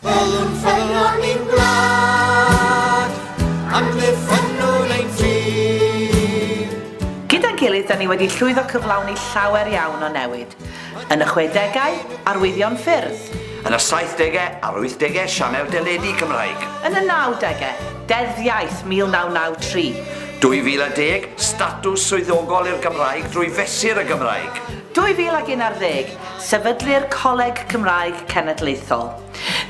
Ffynnwn, ffynnwn i'n gwlad, amddiffynnwn ein tir. Gyda'n gilydd, da ni wedi llwyddo cyflawni llawer iawn o newid. Yn y chwedegau, arwyddion ffyrdd. Yn y saithdegau a'r wythdegau, sianel deledu Cymraeg. Yn y nawdegau, Deddf Iaith 1993. 2010, statws swyddogol i'r Gymraeg drwy fesur y Gymraeg. 2011, sefydlu'r Coleg Cymraeg Cenedlaethol.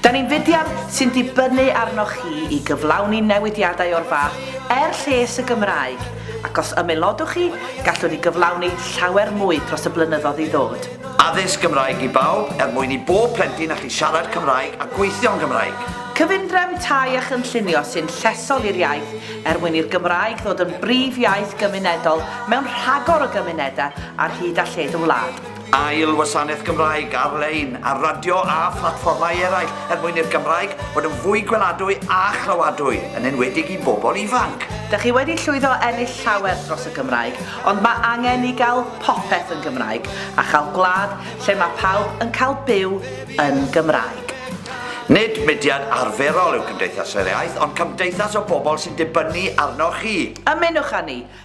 Da ni'n fudiad sy'n dibynnu arnoch chi i gyflawni newidiadau o'r fath er lles y Gymraeg, ac os ymaelodwch chi, gallwn ni gyflawni llawer mwy dros y blynyddoedd i ddod. Addysg Gymraeg i bawb er mwyn i bob plentyn allu siarad Cymraeg a gweithio yn Gymraeg. Cyfundrefn tai a chynllunio sy'n llesol i'r iaith er mwyn i'r Gymraeg ddod yn brif iaith gymunedol mewn rhagor o gymunedau ar hyd a lled y wlad. Ail wasanaeth Gymraeg ar-lein ar radio a phlatfformau eraill er mwyn i'r Gymraeg fod yn fwy gweladwy a chlywadwy, yn enwedig i bobl ifanc. Dych chi wedi llwyddo ennill llawer dros y Gymraeg, ond mae angen i gael popeth yn Gymraeg a chael gwlad lle mae pawb yn cael byw yn Gymraeg. Nid mudiad arferol yw Cymdeithas yr Iaith, ond cymdeithas o bobl sy'n dibynnu arnoch chi. Ymunwch â ni!